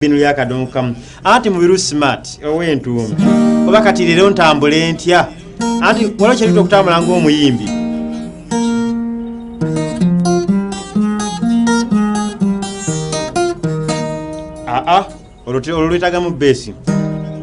binu lya kadongo kamu anti mubiru smart owentuumi oba kati leero ntambule ntya anti waliwo kyerita okutambula ng'omuyimbi aa olwo lwetagamu beesi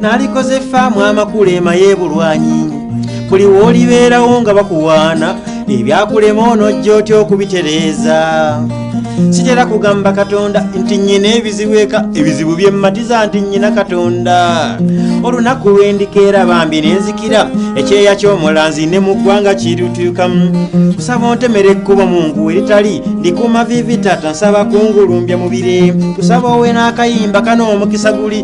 nalikoze faamu amakulu ema yebulwanyinyi buli woolibeerawo nga bakuwaana ebyakulema onojja otya okubitereeza sitera kugamba katonda nti nyina ebizibu eka ebizibu byemmatiza nti nyina katonda olunaku lwendikeera bambi nenzikira ekyeya ky'omulanzi ne mu ggwanga kirutuukamu kusaba ontemera ekkubo mu ngu eritali ndikuuma vivi tata nsaba kungulumbya mubire kusaba owe n'akayimba kano omukisa guli